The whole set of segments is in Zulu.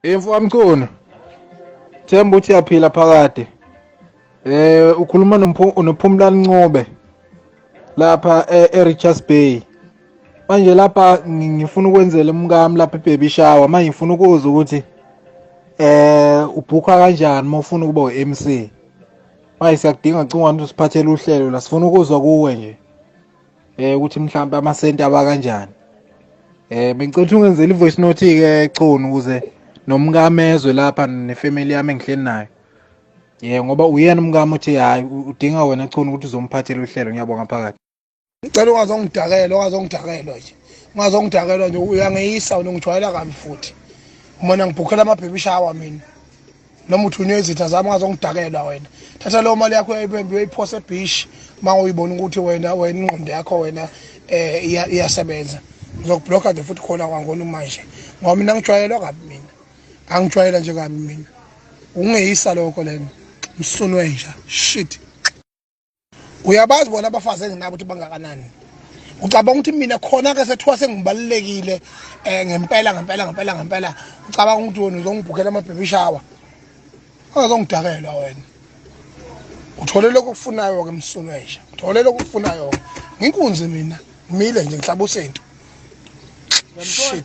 Imfu amkhona. Themba uthi yaphila phakade. Eh ukhuluma nomphu- nophumlani Ncube lapha e- eRichards Bay. Manje lapha ngi- ngifuna ukwenzela umkami lapha ebaby shower manje ngifuna ukuzwa ukuthi eh ubhukha kanjani uma ufuna ukuba uMC. Manje siyakudinga cingwane usiphathele uhlelo la sifuna ukuzwa kuwe nje. eh ukuthi mhlawumbe amasenti aba kanjani eh bengicela ukuthi ungenzele ivoice note ke chunu ukuze nomkamezwe lapha nefamily yami engihleli nayo yeah ngoba uyena umkami uthi hayi udinga wena chunu ukuthi uzomphathela uhlelo ngiyabonga phakathi ngicela ungazongidakela ungazongidakela nje ungazongidakela nje uyangeyisa wena ngijwayela kabi futhi umona ngibhukhela amabhebishawa mina noma uthunywe izitha zami ungazongidakela wena thatha leyo mali yakho ebembi uyoyiphose ebish uma uyibona ukuthi wena wena ingqondo yakho wena um eh, iyasebenza ngizokubhlokha nje futhi khona kwangona manje ngoba mina ngijwayelwa kabi mina angijwayela nje kabi mina ungeyisa lokho lena msunwe nja shit uyabazi bona abafazi enginabo ukuthi bangakanani ucabanga ukuthi mina khona ke sethiwa sengibalulekile um ngempela ngempela ngempela ngempela ucabanga ukuthi wena uzongibhukela amabhemi shawa ongazongidakela wena uthole lokhu okufunayo-ke msulwesha uthole lokhu okufunayo-ke nginkunzi mina ngimile nje ngihlaba usintu shit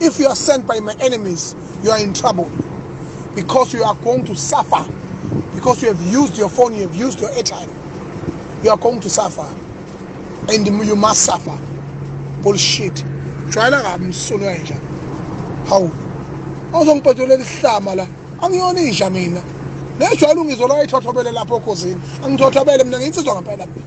If you are sent by my enemies, you are in trouble because you are going to suffer because you have used your phone, you have used your airtime. You are going to suffer and you must suffer. Bullshit. Jwayela kabi msunu kanje. Hawu. Awuzongibhedela lihlama la. Angiyona inja mina. Nejwayela ungizolo ayithothobele lapho okhozini. Angithothobele mina ngiyitsizwa ngempela mina.